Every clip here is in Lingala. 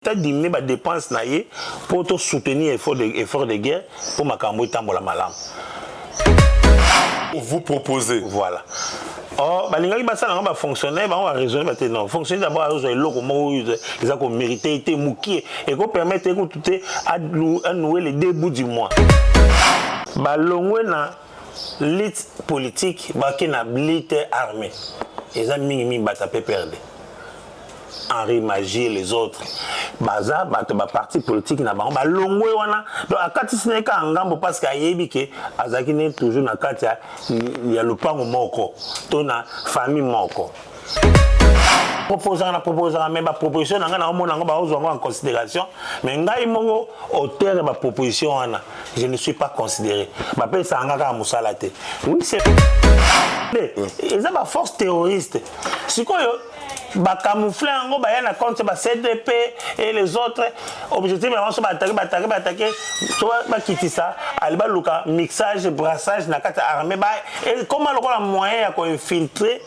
ta diminue ba depense na ye po to soutenir effort de, effort de guerre po makambo etambola malamu vous proposer voilà oh balingaki basala yango bafonctionnaire bango baraisonne bate non fonctionnaire dabord azozwa eloko moko oyo eza komérite ye te mokie ekopermettre ye kutu te anoue le deux bout du mois balongwe na lite politique bake na blite armée eza mingi mingi bata pprd Henri Magie les autres baza bato ba parti politique na bango balongwe wana donc akatisi na ye kaka ngambo parce que ayebi ke azalaki ne toujours na kati ya, ya lopango moko to na famille moko proposaka na proposaka mais baproposition na ngai naomona yango baozwa yango en considération mais ngai moko auteur ya baproposition wana je ne suis pas considéré bapesaka ngai kaka mosala te oui c'est eza baforce terroriste sikoyo ba camoufler yango baya na compte ba CDP et les autres objectif ya banso batake batake batake to bakitisa ali baluka mixage brassage na kati ya armée ba ekoma lokola moyen ya koinfiltrer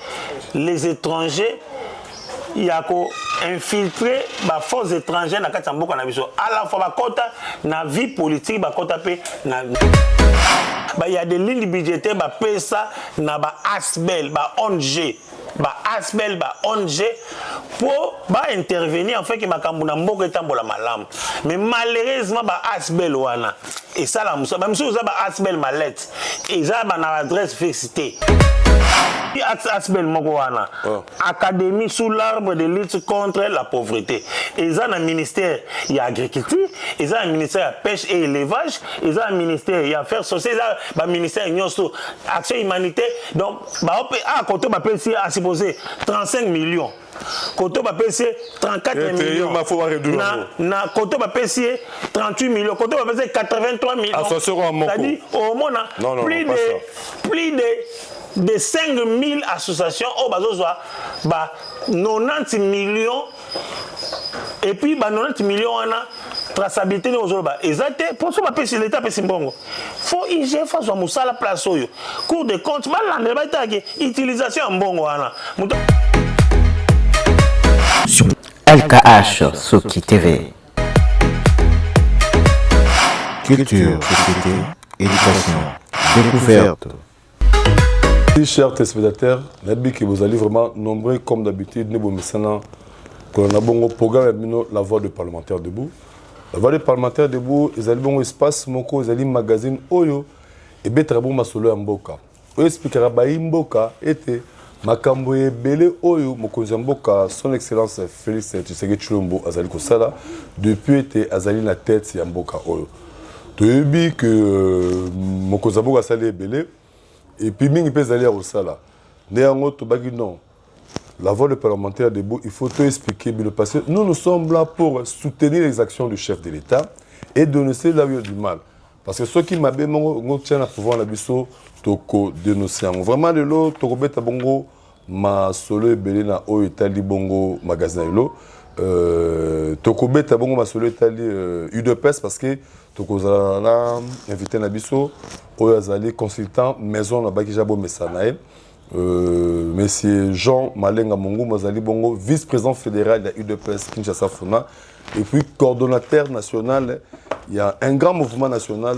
les étrangers ya koinfiltre baforce étrangère na kati ya mboka na biso à la fois bakɔta na vie politique bakɔta mpe na ba ya de ligne budgétaire bapesa na ba asbel ba ong ba asbl ba ong po ba intervenir enfin ke makambo na mboka etambola malamu mais malheureusement ba asbl wana esala mosala ba misusu eza ba asbl malette eza ba na adresse fixe te asbl moko wana oh. académie sous l'arbre de lutte contre la pauvreté eza na ministère ya agriculture eza na ministère ya pêche et élevage eza na ministère ya affaires sociales eza baministère nyonso action humanité donc Bao pe ah koto ba pesi a supposé 35 millions. Koto ba pesi 34 millions. Na na koto ba pesi 38 millions. Koto ba pesi 83 millions. Association à Moko. C'est-à-dire au moins plus de plus de de 5000 associations au bazo ba 90 millions et puis ba 90 millions wana traçabilité ndenge ozoloba eza te mpo so bapesi leta apesi mbongo fo igf azwa mosala place oyo cour de compte balandela batalaki utilisation ya mbongo wana moto LKH Soki TV Culture, société, éducation, découverte Si, chers téléspectateurs, nayebi que vous allez vraiment nombreux comme d'habitude ne bomesana kolanda bongo programme ya bino la voix de parlementaire debout la voix de parlementaire debout ezali bongo espace moko ezali magazine oyo ebetaka bongo masolo ya mboka oyo esplikaka bayi mboka ete makambo ebele oyo mokonzi ya mboka son excellence félix tshisekedi tshilombo azali kosala depuis ete azali na tete ya mboka oyo toyebi ke euh, mokonzi ya mboka asali ebele epuis mingi mpe ezali ya kosala nde yango tobaki non la voix de parlementaire debout il faut to expliquer bino parce que nous nous sommes là pour soutenir les actions du chef de l'état et dénoncer là où il y a du mal parce que soki mabe moko ngo tia na pouvoir na biso toko denoncer yango vraiment lelo tokobeta bongo masolo ebele na oyo etali bongo magasin na lelo euh, tokobeta bongo masolo etali euh, udps parce que tokozala na invité na biso oyo azali consultant maison na bakija bomesa na ye Euh, Monsieur Jean Malenga Mongum azali bongo vice-président fédéral ya UDPS Kinshasa Funa et puis coordonnateur national ya un grand mouvement national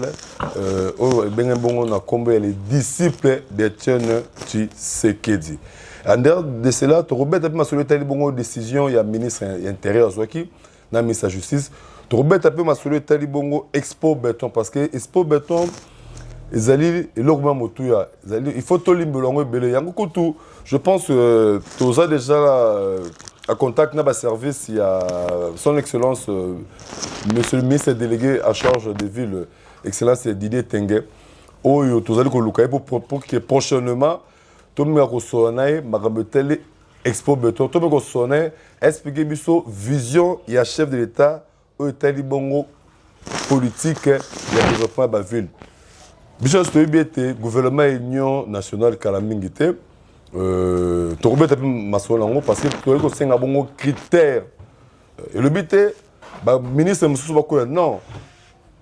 euh, oyo ebenge bongo na nkombo ya les disciples d'Etienne Tshisekedi. En dehors de cela, tokobeta mpe masolo etali bongo décision ya ministre ya intérieur azwaki na misa justice tokobeta mpe masolo etali bongo expo beton parce que expo beton ezali eloko mwa motuya ezali il faut tolimbelo yango ebele yango kutu je pense euh, toza déjà euh, à contact na baservice ya son excellence euh, monsieur le ministre délégué à charge des villes excellence didier tenge oyo tozali koluka ye pour que prochainement tomeka kosolola na ye makambo etali expo beton to mpe kosolola na ye explike biso vision ya chef de l'état oyo etali bongo politique ya développement ya baville biso nyonso toyebi ete gouvernement ya union nationale kala mingi te euh, tokobeta mpe masolo yango parce que toyei kosenga bongo critère euh, elobi te baministre mosusu bakoya non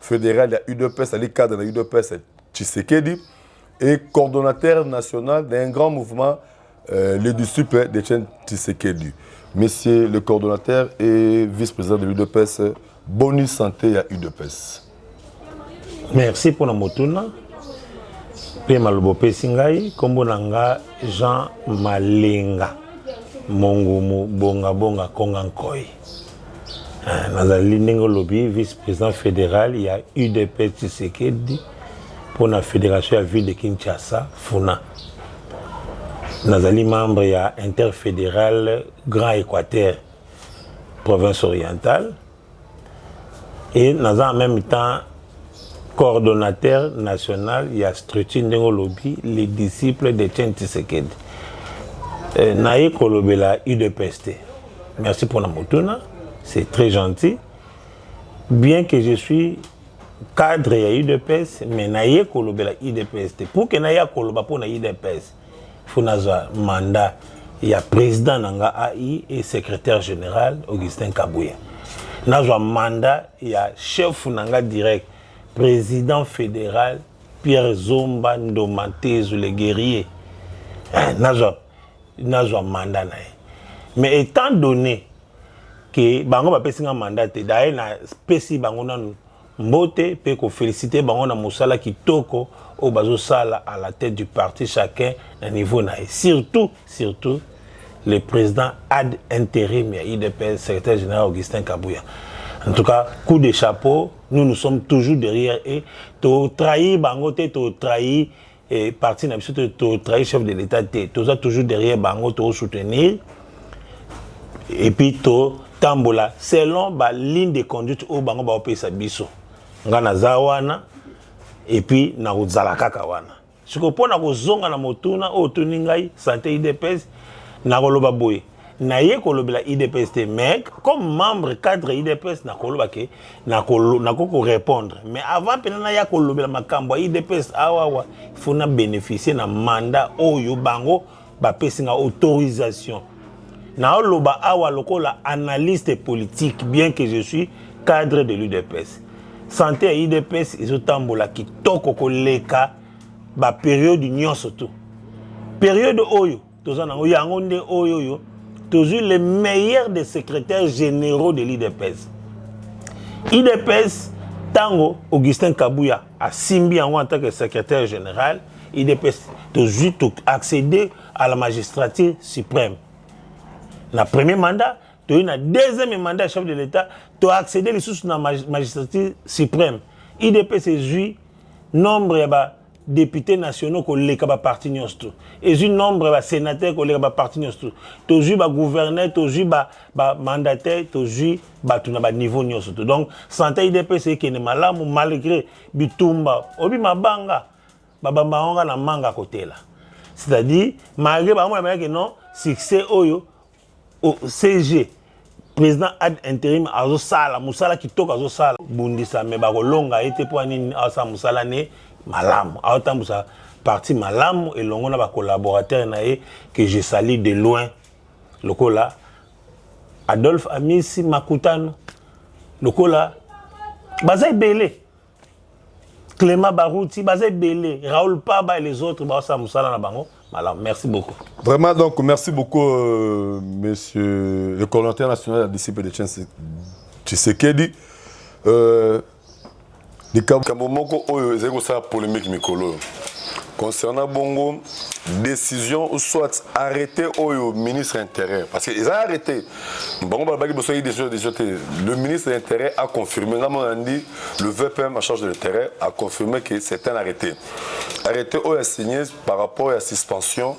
federal ya udps ali cadre na udps tshisekedi et coordonnateur national d'un grand mouvement euh, le disciple de chen tshisekedi monsieur le coordonnateur et vice-président de l'udps boni santé ya udps merci mpona motuna mpe maloba opesi ngai nkombo na nga jean malenga mongumu bongabonga konga nkoi nazali ndenge olobi vice président fédéral ya udp tshisekedi mpo na fédération ya ville de kinshasa funa nazali membre ya interfédéral grand équateur province orientale et naza en même temps coordonnateur national ya structure ndenge olobi les disciples de Chen Tshisekedi euh, naye kolobela udps te merci mpona motuna c'est très gentil bien que je suis cadre ya udps mais naye kolobela udps te pour ke naye akoloba mpo na udps faut nazwa mandat ya président na nga ai et secrétaire général augustin kabuya nazwa mandat ya chef na nga direct président fédéral pierre zomba ndoma tezu le guerrier eh, nazwa nazwa mandat na ye mais étant donné ke bango bapesi nga mandat te daye napesi bango nanu mbote mpe kofelisite bango na mosala kitoko oyo bazosala à la tête du parti chacun na niveau na ye surtout surtout le président ad interim ya idps secrétaire général augustin kabuya en tout cas coup de chapeau nous nous sommes toujours derrière et totrahir bango te totrahir et parti na biso to trahir chef de l'état te toza toujours derrière bango to soutenir et puis to tambola selon ba ligne de conduite oyo bango baopesa biso ngai naza wana et puis nakozala kaka wana sikoyo mpo na kozonga na motuna oyo otuni ngai sante idps nakoloba boye naye kolobela idps te mais comme membre cadre idps nakoloba ke nakoki korépondre mais avant mpena naya kolobela makambo ya idps awawa faut na bénéficie na mandat oyo bango bapesi nga autorisation naoloba awa lokola analyste politique bien que je suis cadre de l'udps sante ya idps ezotambola kitoko koleka baperiode nyonso tu periode oyo toza nango yango nde oyo oyo tozwi le meilleur des secrétaires généraux de l'idps idps ntango augustin kabuya asimbi yango en tant que secrétaire général idps tozwi accéder à la magistrature suprême na premier mandat toyei na deuxième mandat ya chef de l'état toaccéder lisusu na magistrature suprême idps ezwi nombre ya ba depute nationaux koleka baparti nyonso tu ezwi nombre ya basenateur koleka baparti nyonso tu tozwi bagouverneur tozwi bamandataire ba tozwi bato na baniveau nyonso tu donc sante idps ekende malamu malgré bitumba obi mabanga babamba yango nga na manga kotela c'est-à-dire malgré bango bayambayake non succès oyo oh, cg président ad interim azosala mosala kitoko azosala bundisa me bakolonga ye te mpo anini aosala mosala ne malamu aotambwisa parti malamu elongo na bacollaborateur na ye que je sali de loin lokola adolphe amisi makutano lokola baza ebele Clément Barouti, Bazé Belé, Raoul Paba et les autres, Baosa Moussala Nabango. Voilà, merci beaucoup. Vraiment, donc, merci beaucoup, euh, monsieur le coordinateur national de la disciple de Tshisekedi. Euh, likambo moko oyo ezali kosala polémique mikolo oyo concernant bongo décision ou soit arrêté oyo ministre intérieur parce que eza arrêté bango balobaki boso ye decision decision te le ministre de l'intérêt a confirmé nga mona ndi le vpm en charge de l'intérêt a confirmé que c'est un arrêté arrêté oyo a signé par rapport ya suspension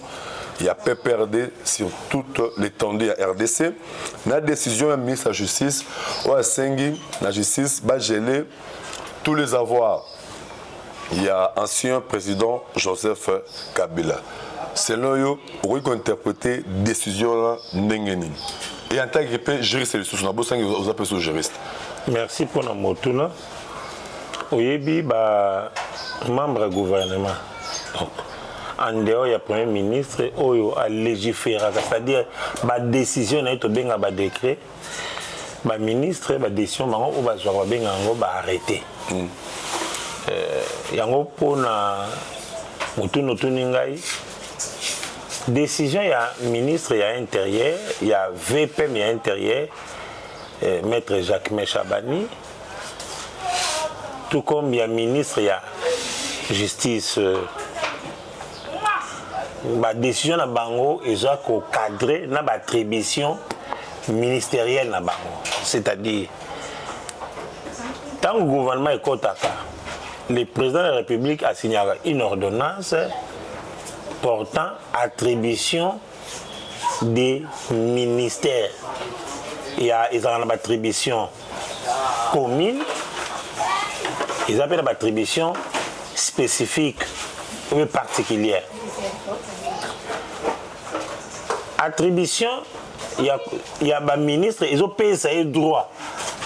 ya pprd sur toute l'étendue ya rdc na décision ya ministre ya justice oyo asengi na justice bagele tous les avoirs ya ancien président joseph kabila selon yo okoki kointerprete décision wana ndenge nini e en tant que mpe juriste lisusu nabosangi oza mpe so juriste merci mpona motuna oyebi ba membre ya gouvernement donc en dehors ya premier ministre oyo alegiferaka c'est-à-dire badécision na ye tobenga badécret ba ministre ba decision bango oyo bazwaka babenga yango ba arrete mm. eh, yango mpona motuni otuni ngai decision ya ministre ya interieur ya vpm ya interieur eh, maître jacques meshabani tout comme ya ministre ya justice euh, ba décision na bango eza ko cadrer na ba attribution ministérielle na bango c'est-à-dire ntango gouvernement ekotaka le président de la république asignaka une ordonnance portant attribution de ministère ya ezala na batribution commune eza mpe na batribution spécifique oyo particulière attribution ya, ya baministre ezopesa ye droit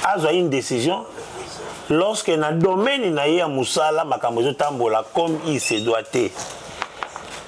azwa une décision lorsque na domaine na ye ya mosala makambo ezotambola comme il se doit te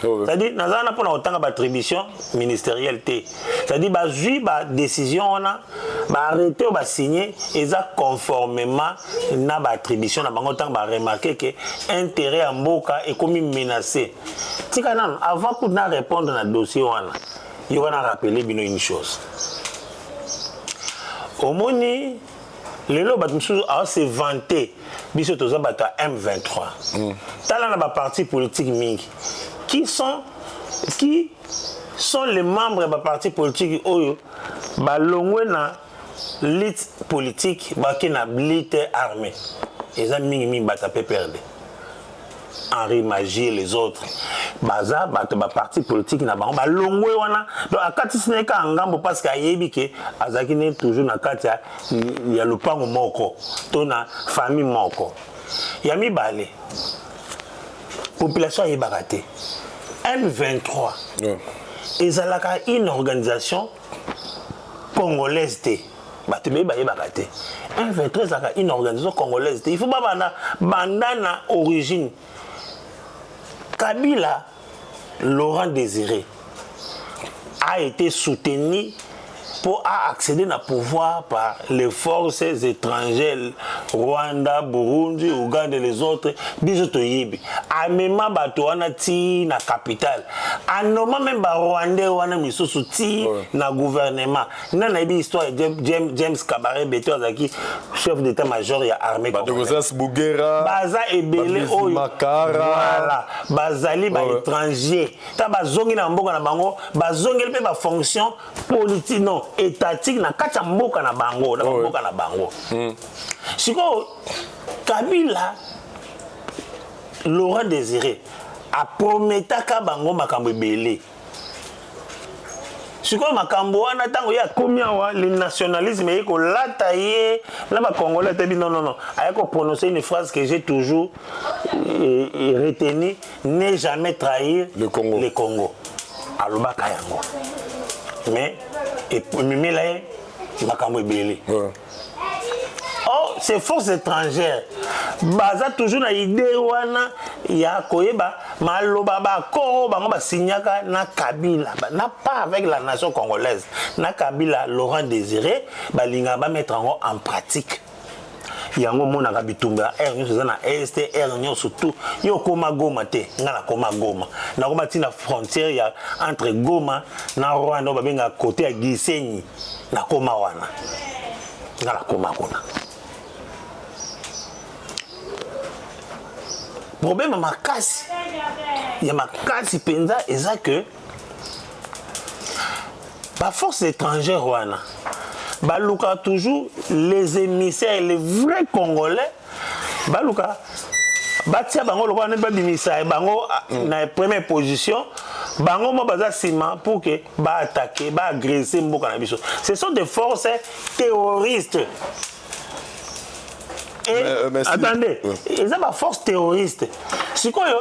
c'est-à-dire naza wana mpona kotanga baattribution ministérielle te c'est-à-dire bazwi badécision wana baarrete oyo basigne eza conformément na baattribution na bango ntango baremarke ke intérêt ya mboka ekomi menacé tika nano avant kutu na répondre na dossier wana yoka na rappele bino une chose omoni lelo bato mosusu awa se vante biso toza bato ya m23 mm. tala na baparti politique mingi qui sont qui sont les membres ya baparti politique oyo balongwe na lite politique bake na lite armée eza mingi mingi bato ya pprd Henri Magie et les autres baza bato ba parti politique na bango balongwe wana donc akatisi na ye kaka ngambo parce que ayebi ke azalaki ne toujours na kati ya, ya lopango moko to na famille moko ya mibale population ayebaka te M23 yeah. ezalaka une organisation congolaise te bato ebele bayebaka te m23 ezalaka une organisation congolaise te il faut babanda banda na origine kabila laurent désiré a été soutenu pour accéder na pouvoir par les forces étrangères rwanda burundi ouganda et les autres biso toyebi amema bato wana ti na capitale a noma meme ba rwandais wana misusu ti ouais. na gouvernement nani nayebi histoire ya james, james kabare beto azalaki chef d'état major ya armée bugera baza ebele oyo voilà bazali ba ouais. étranger ta bazongi na mboka na bango bazongeli mpe bafonction politique non étatique na kati ya mboka na bango na mboka na bango mm. sikoyo kabila Laurent Desire aprometaka bango makambo ebele sikoyo makambo wana ntango ye akomi awa le nationalisme eye kolata ye na bacongolais atebi non non non aye koprononce une phrase que j'ai toujours euh, euh, retenu ne jamais trahir le congo, le congo. alobaka yango mais ememela ye makambo ebele or ces forces étrangères baza toujours na idée wana ya koyeba maloba baaccord oyo bango basignaka na kabila na pas avec la nation congolaise na kabila laurent désiré balingaka bamettre yango en pratique yango omonaka bitumba ya aire nyonso eza na est aire nyonso tout yo okoma goma te ngai nakoma goma nakoma ntina frontière ya entre goma na rwanda oyo babengaka kote ya gisenyi nakoma wana nga nakoma kuna problème makasi ya makasi mpenza eza que baforce étrangère wana balukaka toujours les émissaires les vrais congolais baluka batia bango lokola neti babimisa eh, bango ah, mm. na première position bango mo baza nsima pour que baattaque baagresse mboka na biso ce sont des forces terroristes et, mais, euh, mais si. attendez eza baforce terroriste sikoyo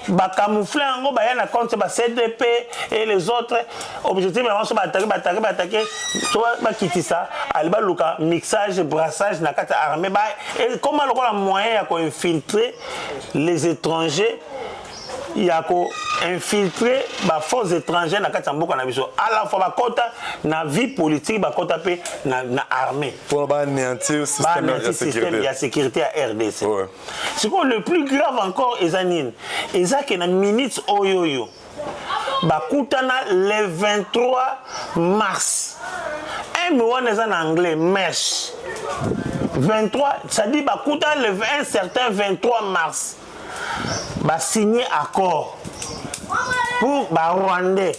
ba camoufler yango baya na compte ba CDP et les autres objectif na bango batake batake batake to bakitisa ali baluka mixage brassage na kati ya armée ba ekoma lokola moyen ya koinfiltrer les étrangers ya koinfiltre baforce étrangère na kati ya mboka na biso à la fois bakɔta na vie politique bakɔta mpe na, na armée mpo banéantir système ya sécurité ya rdc ouais. sikoyo le plus grave encore eza nini eza ke na minute oyo oyo bakutana le 23 mars m wana eza na anglais mesh 23 cestadire bakutana le un certain 23 mars basigne accord pour barwandais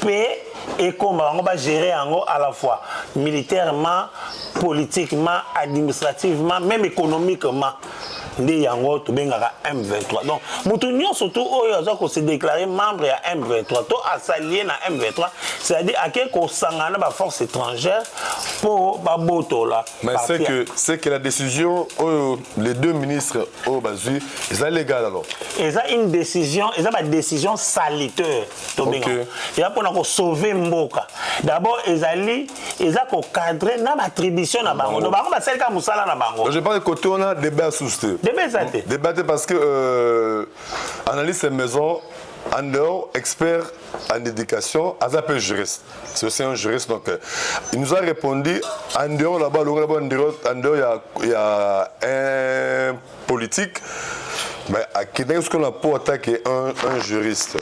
pe ekomba bango ba gérer yango à la fois militairement politiquement administrativement même économiquement nde yango tobengaka m23 donc moto nyonso tu oyo aza kose déclare membre ya m23 to asalie na m23 c'est-à-dire ake kosangana na baforce étrangère mpo babotola mais c'est que c'est que la décision oyo les deux ministres oyo bazwi eza légal alors eza une décision eza badécision saliteur tobenga okay. ya mpona kosauve mboka d'abord ezali eza kocadre na batribution na bango no bango basali kaka mosala na bango je pense kote wana débat ya susu te débat eza te débat te parce que euh, analyse maison en dehors expert en éducation aza mpe juriste c'est aussi un juriste donc euh, il nous a répondu en dehors là-bas longola ba en dehors ya, ya un politique mais akendaki sikoyo na po atake un, un juriste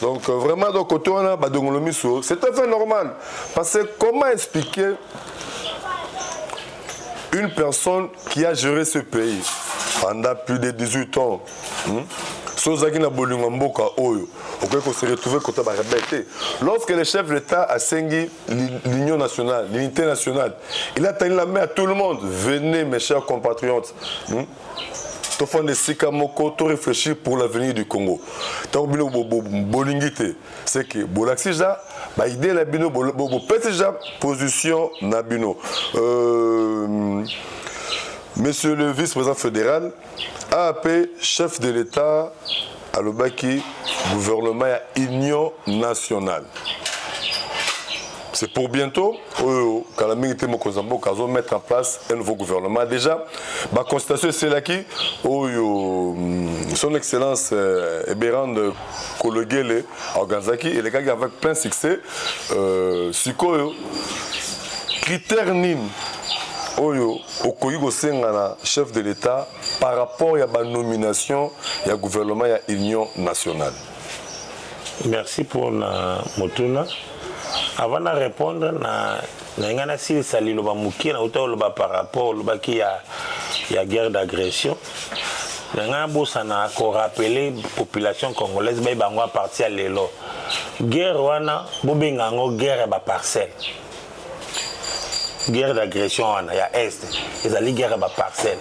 donc euh, vraiment donc koto wana badongolo miso c'est tout à fait normal parce que comment expliquer une personne qui a géré ce pays pendant plus de 18 ans hmm? soki ozalaki na bolingo ya mboka oyo okoki kose retrouve kota barebele te lorsque le chef de l'état asengi l'union nationale, l'unité nationale. Il a tenu la main à tout le monde. Venez, mes chers compatriotes. Hmm? tofanda esika moko to réfléchir pour l'avenir du congo ntango bino bolingi te c'est que bolakisi ja baidée na bino bopesi ja position na bino euh, monsieur le vice-président fédéral AAP chef de l'Etat alobaki gouvernement ya union nationale c'est pour bientôt oyo kala mingi te mokonzi ya mboka azo mettre en place un nouveau gouvernement déjà baconsultation eselaki oyo mm, son excellence euh, eberande kologele organisaki elekaki avec plein succès euh, sikoyo critère nini oyo okoki kosenga na chef de l'état par rapport ya banomination ya gouvernement ya union nationale merci mpo na motuna avant na répondre na na ngai nasilisa liloba moke nauta oloba par rapport olobaki ya, ya guerre d'agression na ngai nabosana korapele population congolaise bayi bango aparti ya lelo guerre wana bobenga yango guerre ya baparcelle guerre d'agression wana ya est ezali guerre ya baparcelle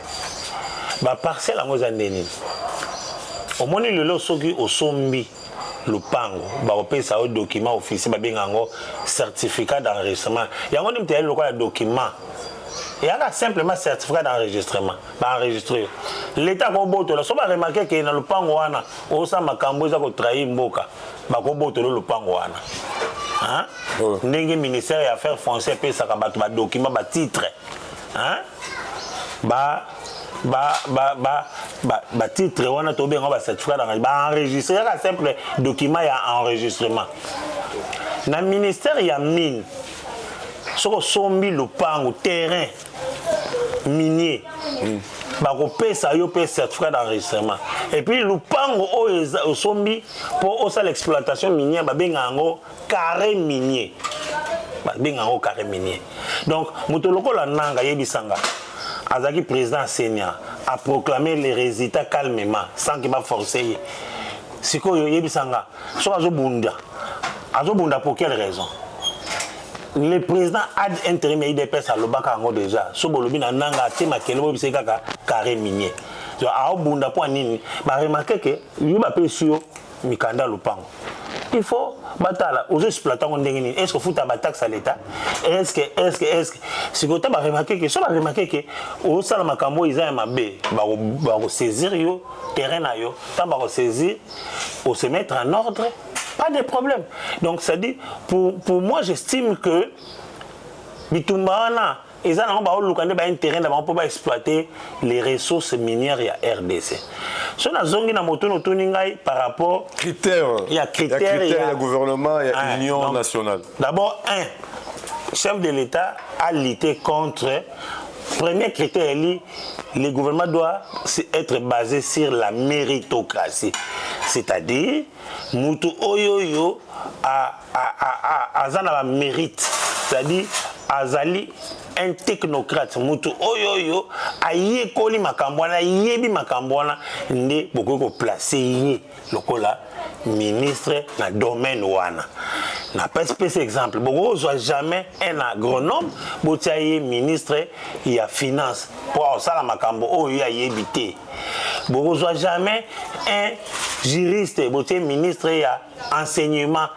baparcelle yango eza nde nini omoni lelo soki osombi lopango bakopesa yo document officier babenga yango certificat d'enregistrement yango nde moto eyali lokola document eyaka simplement certificat d'enregistrement ba enregistre leta akobotola so baremarke ke na lopango wana osa makambo eza kotrahir mboka bakobotola lopango wana oh. ndenge ministère ya affaires français epesaka bato badokima batitre ba batitre wana tobenga bacertificat d'enregistrement baenregistre kaka simple document ya enregistrement na ministère ya mine soki osombi lopango terrain minier mm. bakopesa yo mpe certificat d'enregistrement epuis lupango oyo osombi mpo osala exploitation minière babenga yango carré minier babenga yango carré minier donc moto lokola nanga yebisanga azalaki président ya senia aproclame les résultats calmement sans ke baforce ye sikoyo yebisanga soki azobunda azobunda pour quelle raison le président ad interim ya idps alobaka yango déjà so bolobi na nanga atie makele boyebisa ye kaka carré minier aobunda mpo nini baremarke ke yo bapesi yo mikanda ya lopango il faut batala ozo exploite yango ndenge nini est ce que ofuta bataxe ya leta est ce que est ce que est ce que sikoyo ta baremarke ke so baremarke ke osala makambo oyo eza ya mabe bakosaisir yo terrain na yo ntango bakosaisir ose mettre en ordre pas de problème donc ça dit pour, pour moi j'estime que bitumba wana eza nango baoluka nde baintérêt na bango mpo baexploite les ressources minières ya rdc so nazongi na motuni otuni ngai par rapport critère ya critère ya, critère ya, ya gouvernement ya ah, union donc, nationale d'abord un chef de l'état a lutté contre Premier critère eli, le gouvernement doit être basé sur la méritocratie. C'est-à-dire, mutu oyo yo a, a, a, a, aza na ba mérite. C'est-à-dire, azali un technocrate mutu oyo oyo ayekoli makambo wana ayebi makambo wana nde bokoki koplace ye lokola ministre na domaine wana na pesi pesi exemple bokozwa jamais un agronome botia ye ministre ya finance mpo akosala makambo oyo ye ayebi te bokozwa jamais un juriste botie ministre ya enseignement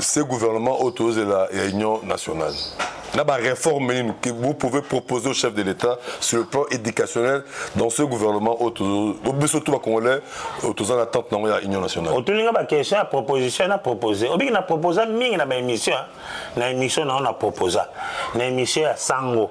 ce gouvernement oyo tozozela ya union nationale na bareforme nini que vous pouvez proposer au chef de l'état sur le plan éducationnel dans ce gouvernement oyo tozo- bo- biso to bacongolais oyo toza na attente nango ya union nationale otuni nga baquestion ya proposition na propose obiki na proposa mingi na baémission na émission na yo na proposa na émission ya sango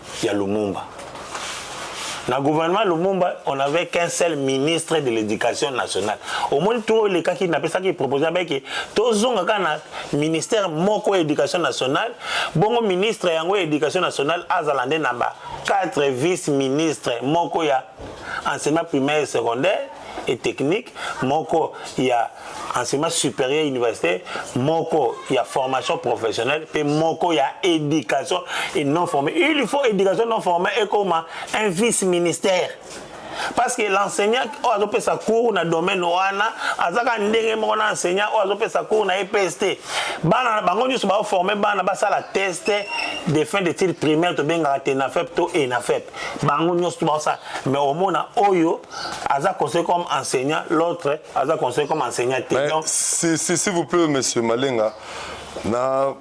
ya Lumumba. Na gouvernement Lumumba, on avait qu'un seul ministre de l'éducation nationale. Au moins tout les cas qui n'a pas ça qui proposait avec tozonga kana ministère moko éducation nationale, bongo ministre yango éducation nationale azalande namba quatre vice-ministres moko ya enseignement primaire et secondaire et technique moko ya enseignement supérieur universitaire moko ya formation professionnelle mpe moko ya éducation et non formée il faut éducation non formée ekoma un vice ministère parce que l'enseignant oyo azopesa cours na domaine wana azaka ndenge moko na enseignant oyo azopesa cours na EPS te bana bango nyonso baoforme bana basala test de fin d'étude primaire tobengaka tenafep to enafep bango nyonso to baosala mais omona oyo aza conseil comme enseignant l'autre aza conseil comme enseignant te donc si, si, s'il vous plaît monsieur malenga na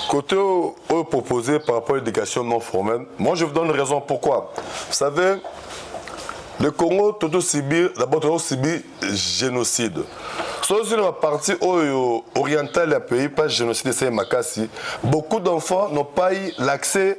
côté oyo proposé par rapport à l'éducation non formelle moi je vous donne raison pourquoi vous savez le congo toto subir d'abord toto subir génocide soki na baparti oyo orientale ya pays pas génocide esali makasi beaucoup d'enfants n'ont pas eu l'accès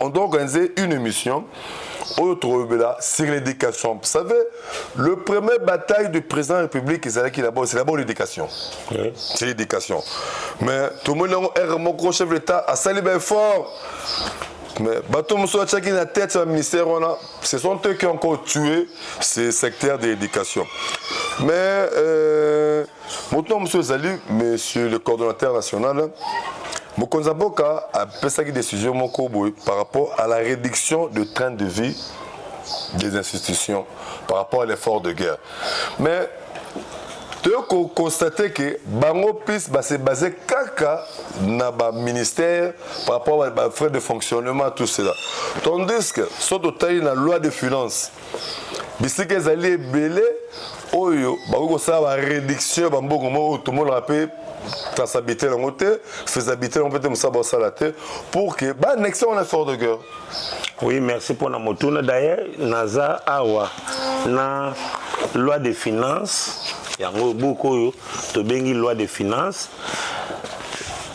on doit organiser une émission oyo tokobela sur l'éducation vous savez le premier bataille du président de la république ezalaki d'abord c'est d'abord l'éducation oui. c'est l'éducation mais tomoni yango r moko chef de l'état asali baeffort mais bato mosusu atyaki na tete ya ministère wana ce sont eux qui ont encore tué ce secteur de l'éducation mais euh, moto na mosusu ezali monsieur le coordonnateur national mokonzi ya mboka apesaki décision moko boye par rapport à la réduction de train de vie des institutions par rapport à l'effort de guerre mais toye koconstate ke bango plus base base kaka na baministère par rapport bafrais de fonctionnement tout cela tandis que so totali na loi de finance bisika ezali ebele oyo bakoki kosala ba réduction ya bambongo moko oyo tomonaka mpe traçabilité yango te faisabilité yango mpe te mosala baosala te pour que baannexe yango na effort de guerre oui merci mpo na motuna d'ailleurs naza awa na loi de finance yango buku oyo tobengi loi de finance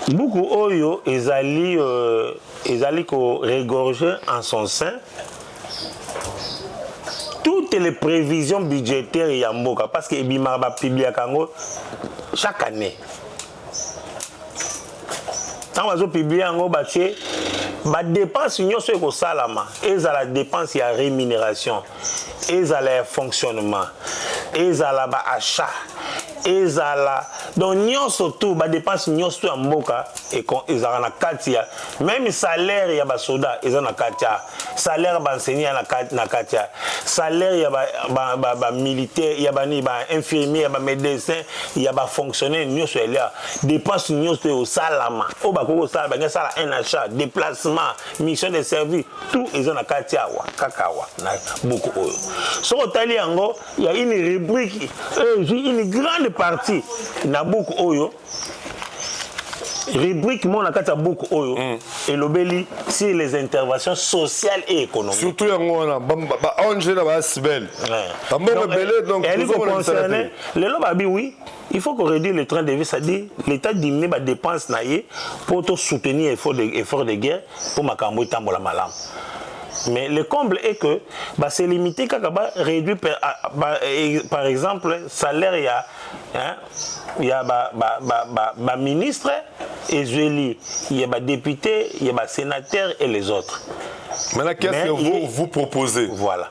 buku oyo ezali euh, ezali ko regorger en son sein toutes les prévisions budgétaires ya mboka parce que ebimaka bapubliaka yango chaque année ntango bazopiblie yango batie badepense nyonso ekosalama ezala dépense ya rémunération ezala ya fonctionnement ezala baachat ezala donc nyonso tu badepense nyonso tu ya mboka ezalaka na kati ya meme salaire ya basoda eza na kati ya salaire ba enseignants na kati na kati ya salaire ya ba ba, ba, ba militaire ya ba ni ba infirmier ya ba médecin ya ba fonctionnaire nyoso elia dépense nyoso yo salama o ba koko sala ba ngi sala un achat déplacement mission de service tout eza na kati ya wa kaka wa na buku oyo soko tali yango ya une rubrique euh, une grande partie na buku oyo rubrique moko na kati ya buku oyo mm. elobeli sur les interventions sociales et économiques surtout yango wana baonge na baasibel bambongo ebele donc eh, lelo babi oui il faut qu'on réduise le train de vie c'est-à-dire l'état diminue badépense na ye mpo tosoutenir effort de, effort de guerre mpo makambo etambola malamu mais le comble est que bah, c'est limité kaka ba réduit par, par exemple salaire ya hein, ya ba, ba, ba, ba, ba ministres ezweli ya ba députés ya ba sénateurs et les autres maintenant qu'est-ce que vous il... vous proposez voilà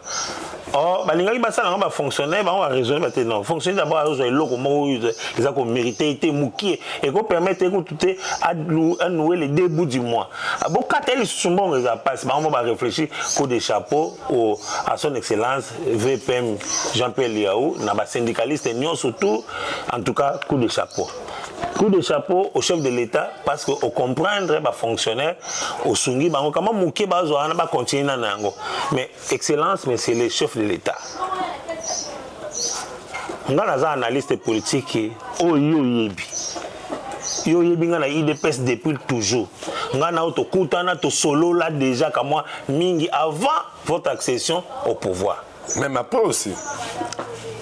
or oh, balingaki basala yango bafonctionnaire bango baraisonne bate non fonctionnaire d'abord azozwa eloko moko oyo eza komérite te mokie ekopermettre ye kutu te anoue le deux bout du mois bokata ye lisusu mbongo eza mpasi bango mo baréfléchir coup de chapeau à son excellence VPM Jean-Pierre Liaou, na ba syndicalistes nionso tout, en tout cas coup de chapeau. Coup de chapeau au chef de l'État parce que au comprendre ba fonctionnaires au sungi bango kama muke bazo wana ba continuer na nango. Mais excellence mais c'est le chef de l'État. Nga naza analyste politique oyo oh, yebi. Yo yebi nga na IDPS depuis toujours. Nga na to kutana to solo là déjà kamwa mingi avant votre accession au pouvoir. Même après aussi.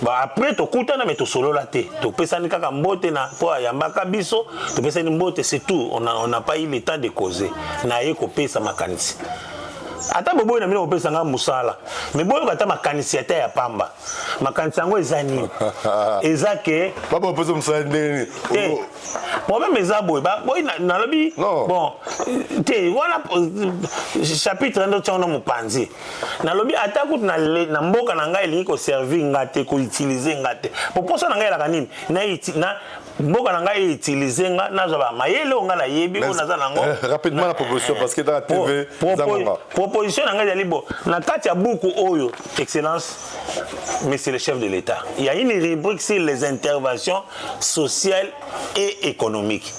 Bah après tokutana mais tosolola te topesani kaka mbote na mpo ayambaka biso topesani mbote c'est tout on n'a on a pas eu le temps de causer na ye kopesa makanisi ata boboyi na bino kopesa ngai mosala me boyoka ata makanisi ata ya pamba makanisi yango eza nini eza ke papa opesa mosala ndenge nini problème eza boye boye nalobi bon te wana chapitre ndo ntango na mopanzi nalobi ata kutu na mboka na ngai elingi koservir nga te koutilize nga te po mposa na ngai elaka nini na mboka na ngai eutilize nga nazwa bamayele oyo ngai nayebi oyo naza nango eh, rapidement na proposition eh, parce que dans la tv proposition na ngai ezali bo na kati ya buku oyo excellence mais c'est le chef de l'État. Il y a une rubrique sur les interventions sociales et économiques.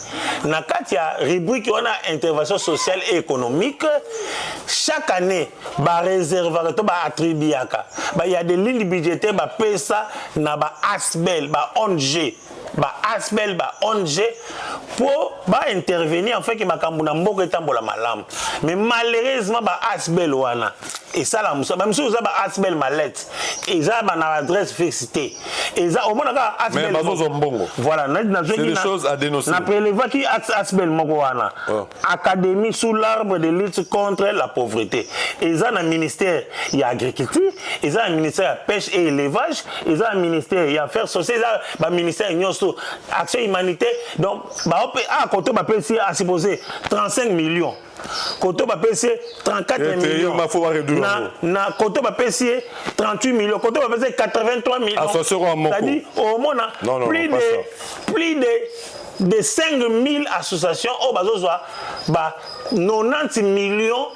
Na kati ya rubrique wana intervention sociale et économique, chaque année ba réservaka to ba attribuaka. Ba il y a des lignes budgétaires ba pesa na ba ASBEL, ba ONG. ba asbl ba ong po ba intervenir enfin ke makambo na mboka etambola malamu mais malheureusement ba asbl wana esala musa ba misusu eza ba asbl malette eza ba na adresse fixe te eza omona kaka asbl mais bazozo mbongo voilà na na na prelevaki asbl moko wana oh. académie sous l'arbre de lutte contre la pauvreté eza na ministère ya agriculture eza na ministère ya pêche et élevage eza na ministère ya affaires sociales eza baministère nyonso action humanité donc baope a ah, koto bapesi asupposé 35 millions koto bapesi ye 34 millions na, na koto bapesi ye 38 millions koto bapesi ye 83 millions omona plus de plus de de 5000 associations oyo bazozwa ba 90 millions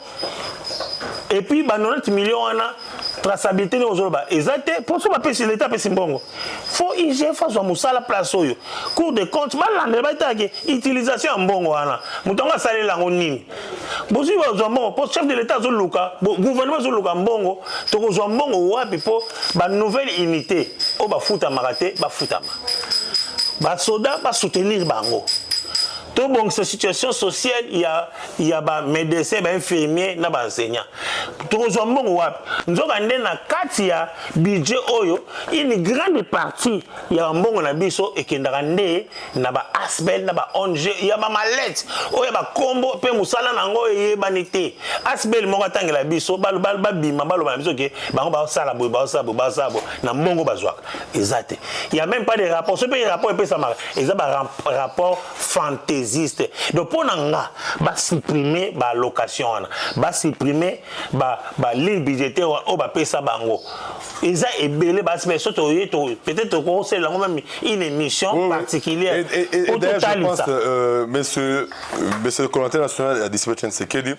et puis ba 90 millions wana traçabilité ndenge ozoloba eza te mpo so bapesi leta apesi mbongo fo igf azwa mosala place oyo cour de compte balandela batalaki utilisation ya mbongo wana moto yango asalela yango nini bozwi bazwa mbongo mpo chef de l'état azoluka gouvernement azoluka mbongo tokozwa mbongo wapi mpo banouvelle unité oyo bafutamaka te bafutama basoda basoutenir bango tobongisa situation sociale ya, ya bamédecin bainfirmier na baenseignant tokozwa mbongo wapi nzoka nde na kati ya budget oyo une grande partie ya bambongo na biso ekendaka nde na ba asbel na ba ong ya ba malete oyo ba kombo pe musala na ngo eyebani te asbel moko atangela biso ba ba ba bima ba loba biso ke bango ba sala boy ba sala boy ba sala boy na mbongo bazwaka eza te il y a même pas de rapport ce pe rapport epesa maka eza ba rapport fantaisiste donc pona nga ba supprimer ba location wana ba supprimer ba ba ligne budgétaire oyo ba pesa bango eza ebele basi mais soki oye peut-être tokosalela yango meme une émission oui, particulière po totalisa euh, monsieur monsieur le coordinateur national ya dispatch nsekedi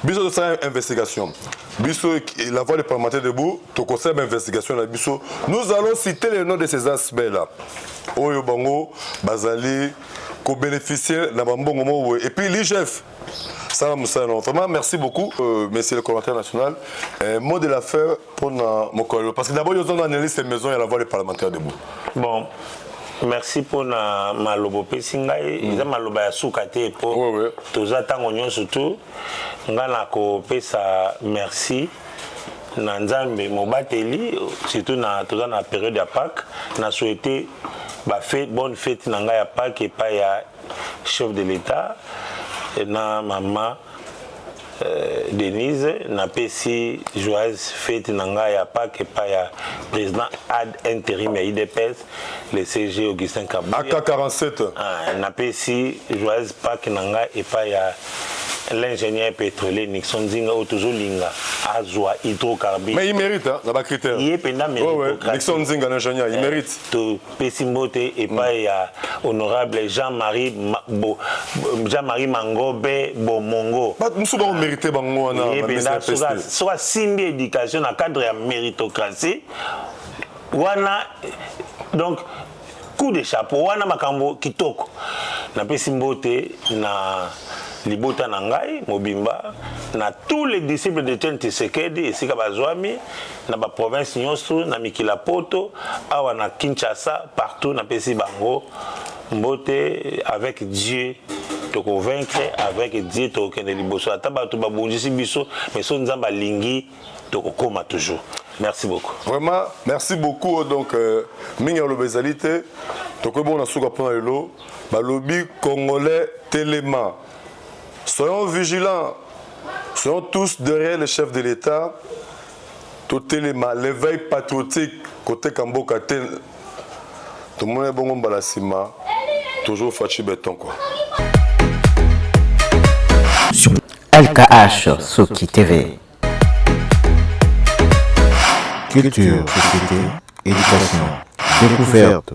biso tosala investigation biso la voix des parlementaires debout tokosala bainvestigation na biso nous allons citer le nom de ces aspects là oyo bango bazali kobénéficier na bambongo moko boye epuis ligef sala mosala na vraiment merci beaucoup euh, monsieur le commentaire national euh, mot de la fin mpona mokolo parce que d'abord yo ozonga analyste maison ya la voix des parlementaires debout bon merci mpona maloba opesi ngai mm. eza maloba ya suka te mpo oui, oui. toza ntango nyonso tu ngai nakopesa merci na nzambe mobateli surtout na toza na période ya pake na souhaite ba fete bonne fete na ngai ya pake epai ya Chef de l'Etat na mama Euh, Denise napesi joyeuse fete na ngai ya Pâques epai ya président ad interim ya UDPS le CG Augustin Kabuya aka 47 ah, napesi joyeuse Pâques na ngai epai ya l'ingénieur pétrolier Nixon Nzinga oyo tozolinga azwa hydrocarbure mais il mérite hein, na ba critères ye mpenza mérite ouais, ouais. Nixon Nzinga l'ingénieur il eh, mérite pesi mbote epai mm. ya honorable Jean-Marie Bo, Jean-Marie Mangobe Bomongo. Bato mosusu bako merite bango wana. Yebenda soka soka simbi éducation na cadre ya méritocratie wana donc coup de chapeau wana makambo kitoko napesi mbote na libota na ngai mobimba na tous les disciples de Etienne Tshisekedi esika bazwami na ba province nyoso na mikila poto awa na Kinshasa partout na pesi bango mbote avec Dieu toko vaincre avec Dieu tokende liboso ata bato babundisi biso mais so Nzambe alingi tokokoma toujours merci beaucoup vraiment merci beaucoup donc euh, mingi aloba ezali te tokoki bongo na suka mpona lelo balobi congolais telema Soyons vigilants, soyons tous derrière le chef de l'Etat. Totelema l'éveil patriotique koteka mboka te. Tomona bongo mbala sima toujours Fatshi Beton quoi. Sur LKH Soki TV. Culture, société, éducation, découverte.